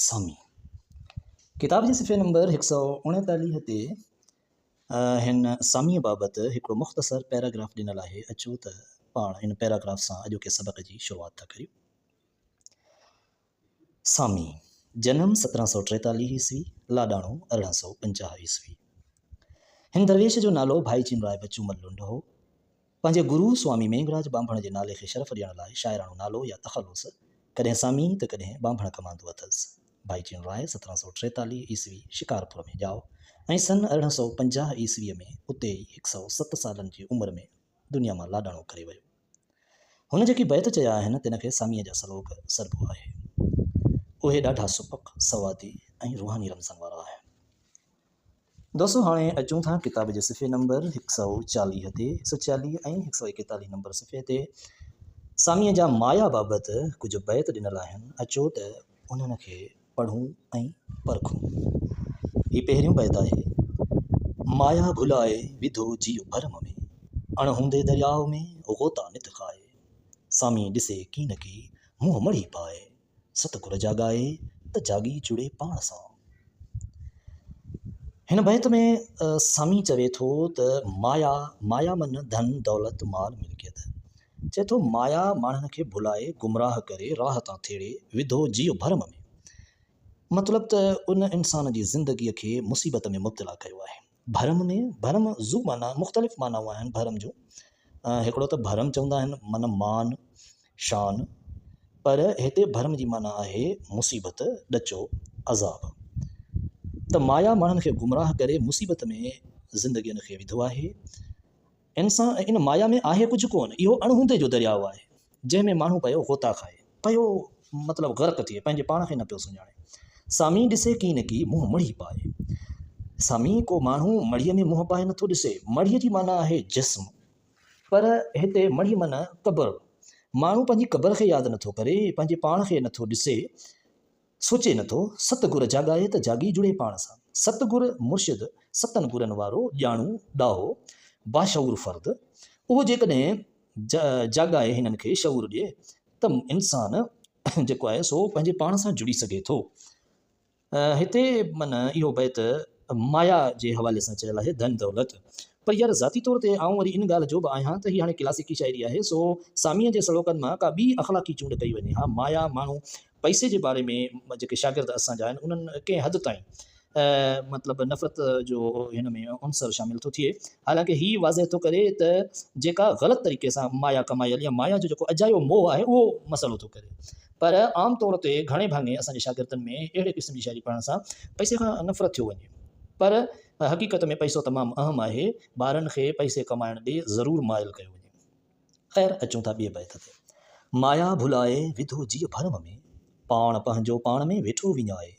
سامي ڪتاب جي صفحي نمبر هڪ سؤ اڻيتاليهه تي هن ساميء بابت هڪڙو مختصر پيراگراف ڏنل آهي، اچو ته پاڻ ان پيراگراف سان اڄوڪي سبق جي شروعات ٿا ڪريون. سامي، جنم سترهن سؤ ٽيتاليهه عيسوي، لاڏاڻو ارڙهن سؤ پنجاهه عيسوي. هن درويش جو نالو ڀائي چينرائي بچو مل لنڊ هو. پنهنجي گرو سوامي مينگهراج ٻانڀڻ جي نالي کي شرف ڏيڻ لاء شاعراڻو نالو يا تخلص ڪڏهن سامي ته ڪڏهن ٻانڀڻ ڪماندو اٿس. ڀائي چين راء سترهن سؤ ٽيتاليهه عيسوي شڪارپور ۾ ڄائو ۽ سن ارڙهن سؤ پنجاهه عيسويء ۾ اتي ئي هڪ سؤ ست سالن جي عمر ۾ دنيا مان لاڏاڻو ڪري ويو. هن جيڪي بيت چيا آهن تن کي ساميء جا سلوڪ سڏبو آهي. اهي ڏاڍا سپڪ، سوادي ۽ روحاني رمزن وارا آهن. دوستو هاڻي اچون ٿا ڪتاب جي صفحي نمبر هڪ سؤ چاليهه تي هڪ سؤ چاليهه ۽ هڪ سؤ ايڪيتاليهه نمبر صفحي تي ساميء جا مايا بابت ڪجهه بيت ڏنل آهن اچو ته انهن کي پڙهون ۽ پرکون هي پهريون بيت آهي مايا ڀلائي وڌو جيء ڀرم ۾ اڻ هوندي درياء ۾ غوطا نت کائي سامي ڏسي ڪين ڪي منهن مڙهي پائي ست گل جاڳائي ته جاڳي جڙي پاڻ سان. هن بيت ۾ سامي چوي ٿو ته مايا، مايا من ڌن دولت مال ملڪيت. چئي ٿو مايا ماڻهن کي ڀلائي، گمراهه ڪري، راهه تان ٿيڙي، وڌو جيء ڀرم ۾. مطلب ته ان انسان جي زندگيء کي مصيبت ۾ مبتلا ڪيو آهي. ڀرم ۾ ڀرم زو معنيٰ مختلف معنائون آهن ڀرم جون هڪڙو ته ڀرم چوندا آهن معنيٰ مان شان پر هتي ڀرم جي معنيٰ آهي مصيبت ڏچو عذاب ته مايا ماڻهن کي گمراهه ڪري مصيبت ۾ زندگين کي وڌو آهي انسان ۽ ان مايا ۾ آهي ڪجهه ڪونه، اهو اڻ هوندي جو درياء آهي، جنهن ۾ ماڻهو پيو غوطا کائي، پيو مطلب غرق ٿئي، پنهنجي پاڻ کي نه پيو سڃاڻي. سامي ڏسي ڪي نه ڪي منهن مڙهي پائي. سامي ڪو ماڻهو مڙهيء ۾ منهن پائي نٿو ڏسي. مڙهيء جي معنيٰ آهي جسم. پر هتي مڙهي معنيٰ قبر. ماڻهو پنهنجي قبر کي ياد نٿو ڪري، پنهنجي پاڻ کي نٿو ڏسي. سوچي نه ٿو، ست گر جاڳائي ته جاڳي جڙي پاڻ سان. ست گر مرشد ستن گرن وارو ڄاڻو، ڏاهو، باشعور فرد. اهو جيڪڏهن جاڳائي هنن کي شعور ڏئي ته انسان جيڪو آهي سو پنهنجي پاڻ سان جڙي سگهي ٿو. هتي من اهو بيت مايا جي حوالي سان چيل آهي ڌن دولت. پر يار ذاتي طور تي آئون وري ان ڳالهه جو به آهيان ته هي هاڻي ڪلاسيڪي شاعري آهي سو ساميء جي سلوڪن مان ڪا ٻي اخلاقي چونڊ ڪئي وڃي ها. مايا ماڻهو پئسي جي باري ۾ جيڪي شاگرد اسان جا آهن انهن ۾ ڪنهن حد تائين مطلب نفرت جو هن ۾ عنصر شامل ٿو ٿئي حالانڪه هي واضح ٿو ڪري ته جيڪا غلط طريقي سان مايا ڪمايل يا مايا جو جيڪو اجايو موهه آهي اهو مسئلو ٿو ڪري پر عام طور تي گهڻي ڀاڱي اسان جي شاگردن ۾ اهڙي قسم جي شاعري پڙهڻ سان پئسي کان نفرت ٿيو وڃي پر حقيقت ۾ پئسو تمام اهم آهي ٻارن کي پئسي ڪمائڻ ڏي ضرور مائل ڪيو وڃي. خير اچون ٿا ٻئي بيت تي. مايا ڀلائي وڌو جيء ڀرم ۾، پاڻ پنهنجو پاڻ ۾ ويٺو وڃائي،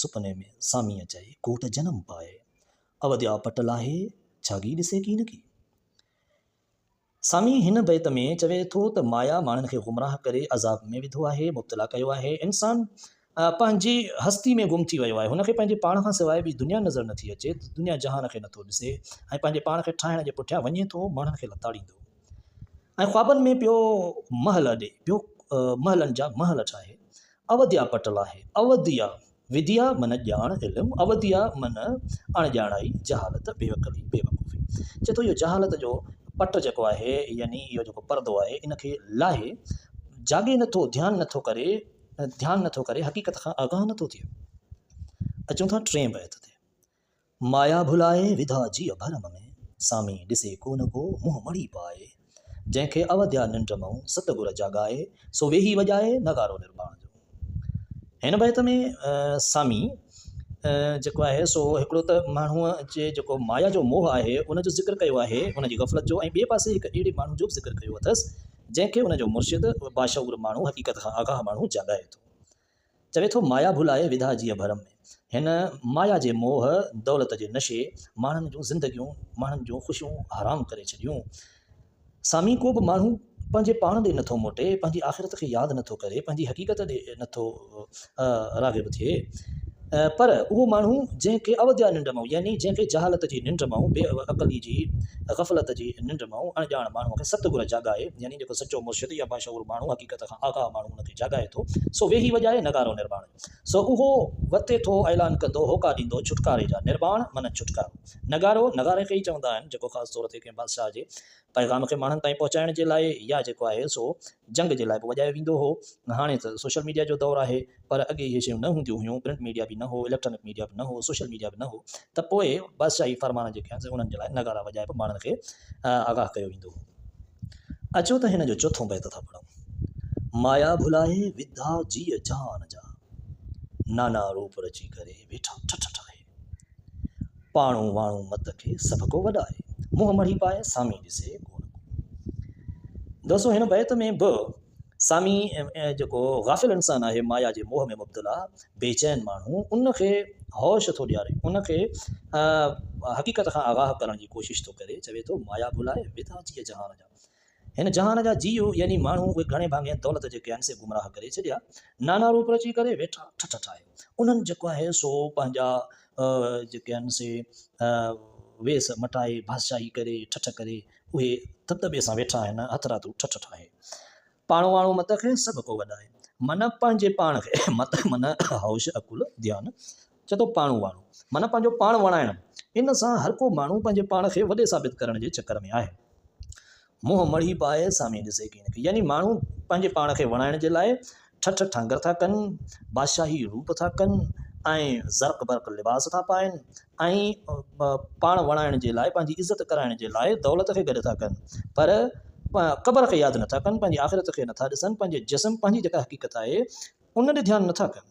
سپني ۾ سامي اچائي ڪوٽ جنم پائي، اوديا پٽ لاهي ڇاڳي ڏسي ڪين ڪي. سامي هن بيت ۾ چوي ٿو ته مايا ماڻهن کي گمراهه ڪري عذاب ۾ وڌو آهي، مبتلا ڪيو آهي، انسان پنهنجي هستي ۾ گم ٿي ويو آهي، هن کي پنهنجي پاڻ کان سواء ٻي دنيا نظر نٿي اچي، دنيا جهان کي نٿو ڏسي ۽ پنهنجي پاڻ کي ٺاهڻ جي پٺيان وڃي ٿو ماڻهن کي لتاڙيندو ۽ خوابن ۾ پيو محل اڏي پيو محلن جا محل ٺاهي اوديا پٽل آهي اوديا وديا من ڄاڻ علم اوديا من اڻڄاڻائي جهالت بيعقلي بيوقوفي چئي ٿو اهو جهالت جو پٽ جيڪو آهي يعني اهو جيڪو پردو آهي ان کي لاهي جاڳي نٿو ڌيان نٿو ڪري ڌيان نٿو ڪري حقيقت کان آگاهه نٿو ٿئي اچون ٿا ٽئين بيت تي مايا ڀلائي وڌا جيء ڀرم ۾ سامي ڏسي ڪو نه ڪو منهن مڙي پائي جنهن کي اوديا ننڊ مئون ست گر جاڳائي سو ويهي وڄائي نغارو نرواڻ جو هن بيت ۾ سامي جيڪو آهي سو هڪڙو ته ماڻهو جي جيڪو مايا جو موهه آهي ان جو ذڪر ڪيو آهي ان جي غفلت جو ۽ ٻئي پاسي هڪ اهڙي ماڻهو جو به ذڪر ڪيو اٿس جنهن کي ان جو مرشد باشعور ماڻهو حقيقت کان آگاهه ماڻهو جاڳائي ٿو. چوي ٿو مايا ڀلائي وڌا جيء ڀرم ۾. هن مايا جي موهه دولت جي نشي ماڻهن جون زندگيون ماڻهن جون خوشيون حرام ڪري ڇڏيون. سامي ڪو به ماڻهو پنهنجي پاڻ ڏي نٿو موٽي پنهنجي آخرت کي ياد نٿو ڪري پنهنجي حقيقت ڏي نٿو راغب ٿئي. پر اهو ماڻهو جنهن کي اوديا ننڊ مئو يعني جنهن کي جهالت جي ننڊ مئو، بي عقلي جي غفلت جي ننڊ مئو، اڻ ڄاڻ ماڻهوء کي ست گر جاڳائي يعني جيڪو سچو مرشد يا باشعور ماڻهو حقيقت کان آگاهه ماڻهو ان کي جاڳائي ٿو سو ويهي وڄائي نغارو نرواڻ سو اهو وتي ٿو اعلان ڪندو هوڪا ڏيندو ڇوٽڪاري جا نرواڻ معنيٰ ڇوٽڪارو نغارو نغاري کي ئي چوندا آهن جيڪو خاص طور تي ڪنهن بادشاهه جي پيغام کي ماڻهن تائين پهچائڻ جي لاء يا جيڪو آهي سو جنگ جي لاء به وڄايو ويندو هو. هاڻي ته سوشل ميڊيا جو دور آهي پر اڳي اهي شيون نه هونديون هيون، پرنٽ ميڊيا به نه هو، اليڪٽرانڪ ميڊيا به نه هو، سوشل ميڊيا به نه هو ته پوء بادشاهي فرمان جيڪي آهن سي انهن جي لاء نغارا وڄائي به ماڻهن کي آگاهه ڪيو ويندو هو. اچو ته هن جو چوٿون بيت ٿا پڙهون. مايا ڀلائي وڌا جيء جهان جا، نانا روپ رچي ڪري ويٺا ٺٺٺ آهي. پاڻو واڻو مت کي سڀ ڪو وڏائي، منهن مڙهي پائي سامي ڏسي ڪو نه ڪو. دوستو هن بيت ۾ به سامي جيڪو غافل انسان آهي، مايا جي موهه ۾ مبتلا بيچين ماڻهو ان کي هوش ٿو ڏياري، ان کي حقيقت کان آگاهه ڪرڻ جي ڪوشش ٿو ڪري، چوي ٿو مايا ڀلائي وڌا جيء جهان جا. هن جهان جا جيو يعني ماڻهو اهي گهڻي ڀاڱي دولت جي قيام سي گمراهه ڪري ڇڏيا نانا روپ رچي ڪري ويٺا ٺٺ ٺاهي انهن جيڪو آهي سو پنهنجا جيڪي آهن سي ويس مٽائي بادشاهي ڪري ٺٺ ڪري اهي تت ٻي سان ويٺا آهن هٿ راتو ٺٺ ٺاهي پاڻو واڻو مت کي سڀ ڪو وڏائي من پنهنجي پاڻ کي مت من هوش عقل ڌيان چئي ٿو پاڻو واڻو معنيٰ پنهنجو پاڻ وڻائڻ. ان سان هر ڪو ماڻهو پنهنجي پاڻ کي وڏي ثابت ڪرڻ جي چڪر ۾ آهي. منهن مڙهي پائي سامي ڏسي ڪين کي. يعني ماڻهو پنهنجي پاڻ کي وڻائڻ جي لاء ٺٺ ٺانگر ٿا ڪن، بادشاهي روپ ٿا ڪن ۽ زرق برق لباس ٿا پائن ۽ پاڻ وڻائڻ جي لاء پنهنجي عزت ڪرائڻ جي لاء دولت کي گڏ ٿا ڪن پر قبر کي ياد نٿا ڪن، پنهنجي آخرت کي نٿا ڏسن، پنهنجي جسم پنهنجي جيڪا حقيقت آهي ان ڏي ڌيان نٿا ڪن.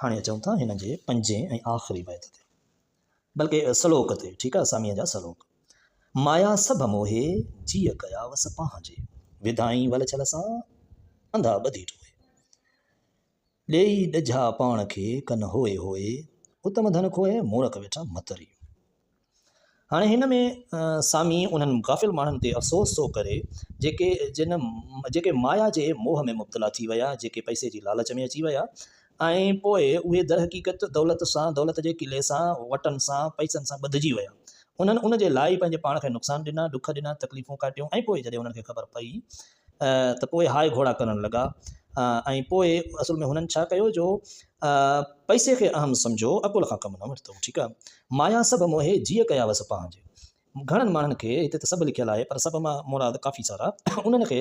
هاڻي اچون ٿا هن جي پنجين ۽ آخري بيت تي بلڪه سلوڪ تي ٺيڪ آهي ساميء جا سلوڪ مايا سڀ موهي جيء ڪيا وس پنهنجي وڌائين ول ڇل سان انڌا ٻڌي ٽوهي ڏيئي ڏجها پاڻ کي ڪن هوئي هوئي اتم ڌن کوهي مورک ويٺا متري هاڻي هن ۾ سامي انهن غافل ماڻهن تي افسوس ٿو ڪري، جيڪي جن جيڪي مايا جي موهه ۾ مبتلا ٿي ويا، جيڪي پئسي جي لالچ ۾ اچي ويا ۽ پوء اهي درحقيقت دولت سان، دولت جي قلعي سان، وٽن سان، پئسن سان ٻڌجي ويا. انهن ان جي لاء ئي پنهنجي پاڻ کي نقصان ڏنا، ڏک ڏنا، تڪليفون ڪاٽيون ۽ پوء جڏهن انهن کي خبر پئي ته پوء هاء گهوڙا ڪرڻ لڳا ۽ پوء اصل ۾ هنن ڇا ڪيو جو پئسي کي اهم سمجهو عقل کان ڪم نه ورتو ٺيڪ آهي مايا سڀ موهي جيء ڪيا وس پنهنجي گهڻن ماڻهن کي هتي ته سڀ لکيل آهي پر سڀ مان مراد ڪافي سارا انهن کي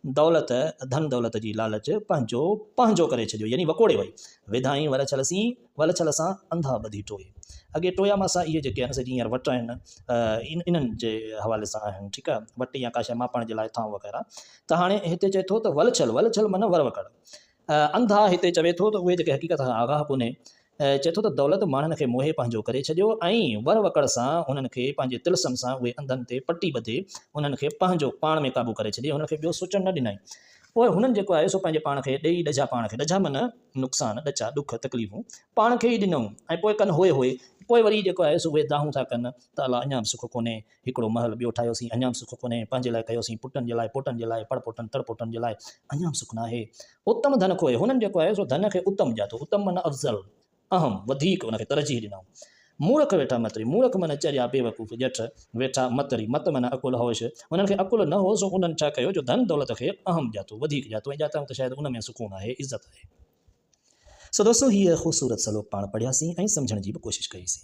دولت ڌن دولت جي لالچ پنهنجو پنهنجو ڪري ڇڏيو يعني وڪوڙي وئي وڌائين ولڇل سين ولڇل سان انڌا ٻڌي ٽوئي اڳي ٽويا ماسا اهي جيڪي آهن سي جي هينئر وٽ آهن انهن جي حوالي سان آهن ٺيڪ آهي وٽ يا ڪا شيء ماپڻ جي لاء ٿانو وغيره ته هاڻي هتي چئي ٿو ته ولڇل ولڇل معنيٰ وروڪڙ انڌا هتي چوي ٿو ته اهي جيڪي حقيقت کان آگاهه ڪونهي، چئي ٿو ته دولت ماڻهن کي موهي پنهنجو ڪري ڇڏيو ۽ ور وڪڙ سان هنن کي پنهنجي طلسم سان اهي انڌن تي پٽي ٻڌي هنن کي پنهنجو پاڻ ۾ قابو ڪري ڇڏي هنن کي ٻيو سوچڻ نه ڏنائين پوء هنن جيڪو آهي سو پنهنجي پاڻ کي ڏيئي ڏجا پاڻ کي ڏجا من نقصان ڏچا ڏک تڪليفون پاڻ کي ئي ڏنئون ۽ پوء ڪن هوء هوء پوء وري جيڪو آهي سو اهي دانهون ٿا ڪن ته الا اڃا به سک ڪونهي هڪڙو محل ٻيو ٺاهيوسين، اڃا به سک ڪونهي، پنهنجي لاء ڪيوسين، پٽن جي لاء، پوٽن جي لاء، پڙپوٽن، تڙپوٽن جي لاء، اڃا به سک ناهي. اتم ڌن کوهي، هنن جيڪو آهي سو ڌن کي اتم ڄاتو، اتم معنيٰ افضل، اهم، وڌيڪ، ان کي ترجيح ڏنائون. مورک ويٺا متري، مورک معنيٰ چريا، بيوقوف، ڄٺ، ويٺا متري، مت معنيٰ عقل، هوش، انهن کي عقل نه هو، سو انهن ڇا ڪيو، جو ڌن دولت کي اهم ڄاتو، وڌيڪ ڄاتو ۽ ڄاتائون ته شايد ان ۾ سڪون آهي، عزت آهي. سو دوستو هيء خوبصورت سلوڪ پاڻ پڙهياسين ۽ سمجهڻ جي به ڪوشش ڪئيسين.